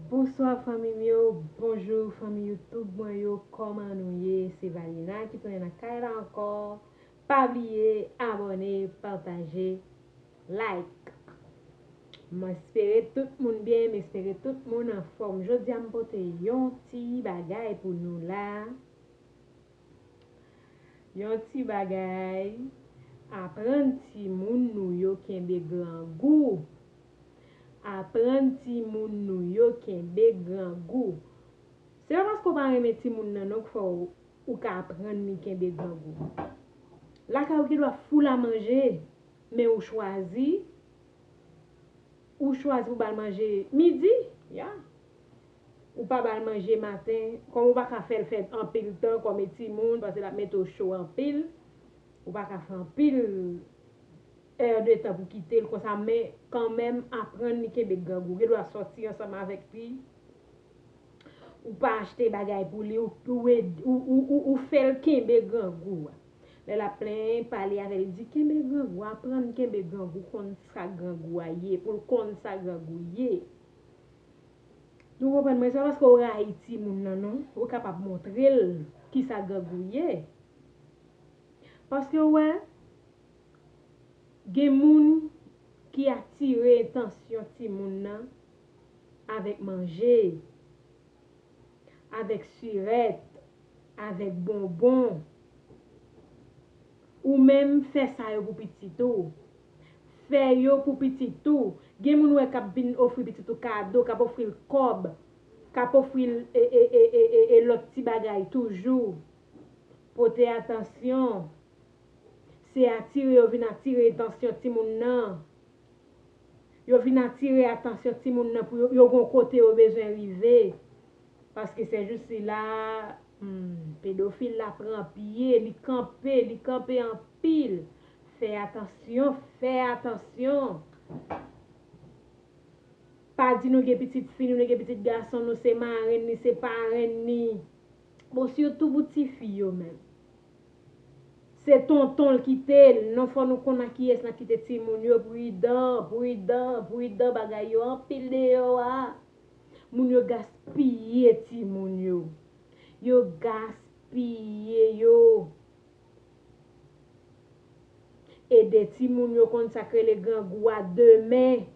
Bonsoir fanmim yo bonjour fanmi YouTube mwen yo koman nou ye se valina ki tounen nan kay la anko pa bliye abone pataje like m espere tout moun byen m espere tout moun anfom jodia m pote yon ti bagay pou nou la yon ti bagay aprann timoun nou yo kenbe grangou Aprann timoun nou yo kenbe grangou. Se pa paske w pa renmen timoun nan non k fè w ou ka aprann li kenbe grangou. Lakay ou gendwa foul a manje men ou chwazi ou chwazi pou ba l manje midi, ya. Ou pa ba l manje maten kòm ou pa ka fè l fè anpil tan kòm e timoun paske l ap mete w cho anpil, ou pa ka fè anpil. Heure de tan pou kite l konsa men kanmenm aprann li kenbe grangou gen dwa sòti ansanm avèk li ou pa achte bagay pou li ou fè l kenbe grangou a lè l ap plenyen pale avè l di kenbe grangou aprann kenbe grangou konn sa grangou a ye pou l konn sa grangou ye nou konprann mwen se pa paske ou rayi timoun nan non ou kapab montre l kisa grangou ye paske ou wè. Gen moun ki atire entansyon timoun nan avèk manje, avèk sirèt, avèk bonbon. Ou menm fè sa yo pou pitit ou. Fè yo pou pitit ou. Gen moun ou wè k ap vin ofri pitit ou kado, k ap ofri l kòb, k ap ofri l e lòt ti bagay toujou. Pote atansyon. Se atire yo vin atire etansyon timoun nan. Yo vin atire atansyon timoun nan pou yo gon kote yo bezwen rive. Paske se jou sila, humm, pedofil la pran pye, li kanpe, li kanpe anpil. Fè atansyon, fè atansyon. Pa di nou gen pitit fi nou, nou gen pitit gason nou, se marenn ni, se parenn ni. Bon, sitou pou tifi yo menm. Se tonton l kite l non fò nou konn a kiyès nan kite timoun yo pridan pridan pridan bagay yo anpil deyò a moun yo gaspiye timoun yo yo gaspiye yo ede timoun yo konn sak rele grangou a demen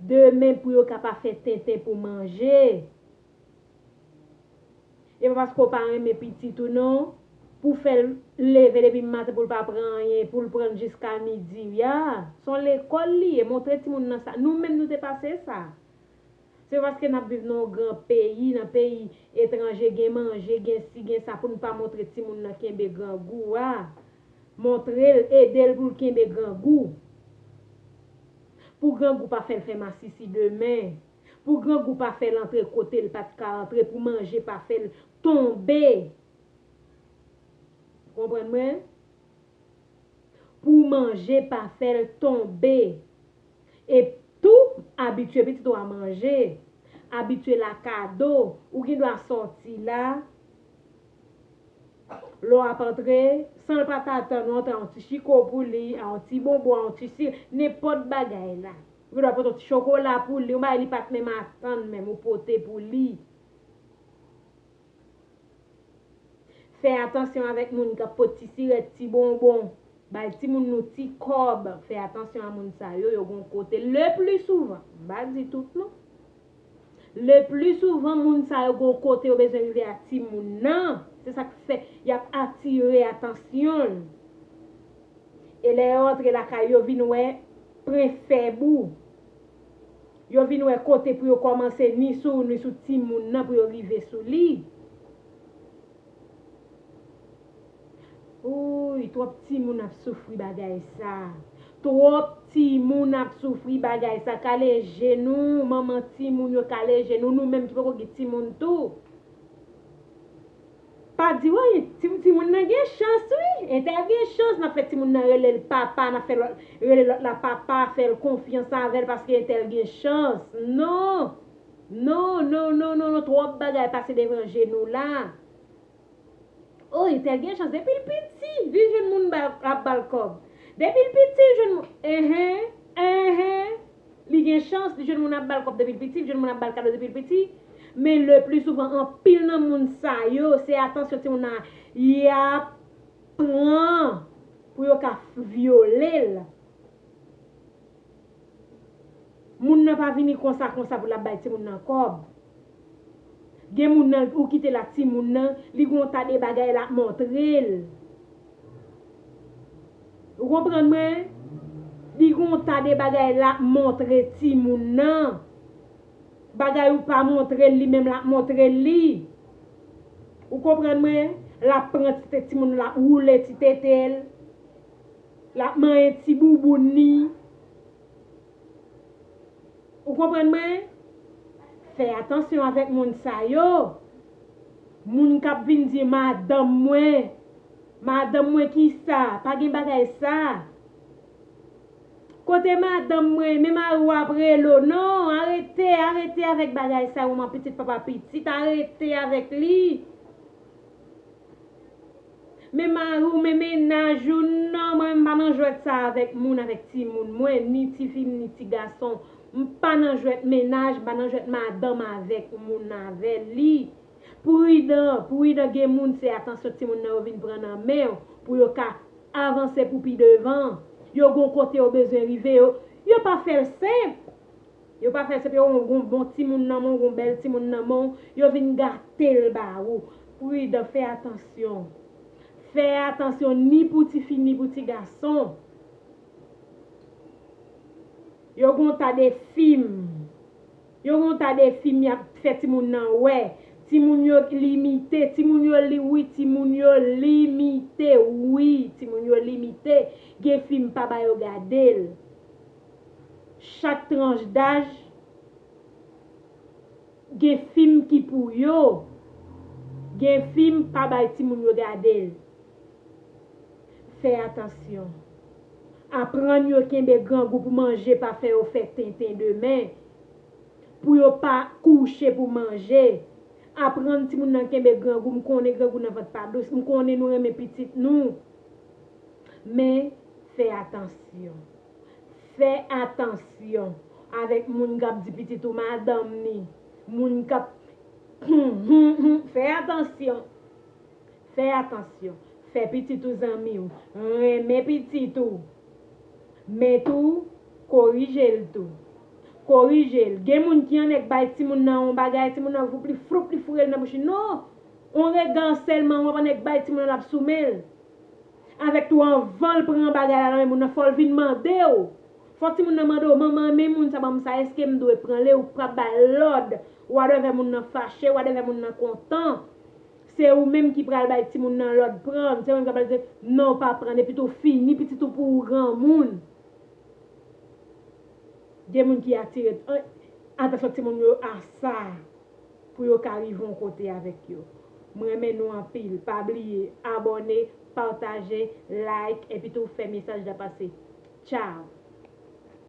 demen pou yo ka pa fè tenten pou manje. E pa paske w pa renmen pitit ou non pou w fè l leve depi maten pou l pa pran anyen pou l pran l jiska midi ya se yon lekòl li ye montre timoun nan sa nou menm nou te pase sa se pa paske n ap viv nan yon gran peyi nan peyi etranje gen manje gen si gen sa pou n pa montre timoun nan kenbe grangou a montre l ede l pou l kenbe grangou pou grangou pa fè l fè masisi demen. Pou grangou pa fè l antre kote l pa t ka antre, pou manje pa fè l tonbe, konprann mwen, pou manje pa fè l tonbe, e tou abitye pitit ou a manje, abitye l a kado, ou gen dwa sòti la, lè w ap antre, san l pa t atann ou antre a yon ti chiko pou li, a yon ti bonbon, a yon ti sirop, nenpòt bagay la. Ou ta pote chokola pou li, yon bagay li pa t menm atann menm, ou pote pou li. Fè atansyon avèk moun k ap pot ti sirèt, ti bonbon. Bay timoun nou ti kòb. Fè atansyon a moun sa yo, yo gen yon kote leplisouvan, m pa di tout non. Le pli souvan moun sa yo gon kote yo bezwen rive ak ti moun nan, se sak fè yap atire atansyonl. E lè yo antre lakay yo vin wè pren fèb ou. Yo vin wè kote pou yo komanse ni sou ou ni sou ti moun nan pou yo rive sou li. Oouyy trop timoun ap soufri bagay sa. Trop timoun ap soufri bagay sa kale je nou manman timoun yo kale je nou nou menm ki poko gen timoun tou pa di wi timoun nan gen chans wi entè gen chans nap fè timoun nan relel papa nap fè lòt rele lòt la papa fèl konfyans avèl paske entèl gen chans non non non non non trop bagay pase devan je nou la. Oh li tèl gen chans depil piti li jwenn moun ap bal kòb depil piti li jwenn moun enh enh li gen chans li jwenn moun ap bal kòb depil piti li jwenn moun ap bal kado depil piti men le pli souvan anpil nan moun sa yo se atansyon timoun nan yap pran pou yo ka vyolel. Moun nan pa vini konsa konsa pou lap bay timoun nan kob. Gen moun nan ou kitel ak timoun nan, li gen yon ta de bagay lap montrel. Ou konprann mwen? Li gen yon ta de bagay lap montre timoun nan. Bagay ou pa montrel li menm lap montre li. Ou konprann mwen? Lap pran ti tete timoun nan lap woule ti tetel. Lap manyen ti bouboune li. Ou konprann mwen? Fè atansyon avèk moun sa yo. Moun kap vin di madanm mwen. Madanm mwen kisa? Pa gen bagay sa. Kote madanm mwen? Men mari w ap rele w. Non, arete, arete avèk bagay sa yo man pitit papa pitit. Arete avèk li. Men mari w men mennaj ou nan mwen m pa nan jwèt sa avèk moun avèk timoun mwen ni tifi m ni ti gason m pa nan jwèt mennaj m pa nan jwèt madanm avèk moun avè li pridan pridan gen moun se atansyon timoun nan yo vin pran nan men w pou yo ka avanse pou pi devan yo gon kote yo bezwen rive yo yo pa fè l senp. Yo pa fè se pye ou gon bon timoun nan men w gon bèl timoun nan men w yo vin gate l ba ou pridan fè atansyon fè atansyon ni pou tifi ni pou ti gason yo gon ta de fim yo gon ta de fim yap fè timoun nan wè timoun yo limite timoun yo li wi timoun yo limite wi timoun yo limite gen fim pa ba yo gade l. Chak tranch daj gen fim ki pou yo. Gen fim pa bay timoun yo gade l. Fè atansyon. Aprann yo kenbe grangou pou manje pa fè yo fè tenten demen. Pou yo pa kouche pou manje. Aprann timoun nan kenbe grangou. M konnen grangou nan vant pa dous. M konnen nou renmen pitit nou. Men, fè atansyon. Fè atansyon avèk moun kap di pitit ou madanm ni moun kap Humm humm humm fè atansyon fè atansyon fè pitit ou zanmiw renmen pitit ou men tou korijel tou korijel gen moun ki an nèk bay timoun nan on bagay timoun nan voup li froup li fourel nan bouch li non on rega sèlman wap an nèk bay timoun nan lap sou menl avèk tou anvanl pran bagay la nan men moun nan fòl vin mandew fò timoun nan mandew manman men moun sa banm sa eskem dwe pranl ew pap bal lòd wadèvè moun nan fache wadèvè moun nan kontan se ou menm ki pral bay timoun nan lòd pranl se ou menm ki pral di non pa pranl epi tou fini pitit ou pou ou granmoun gen moun ki atire atansyon timoun yo a sa. Pou yo ka rive yon kote avèk yo. M renmen nou anpil pa bliye abòne pataje like epitou fè mesaj la pase ciao.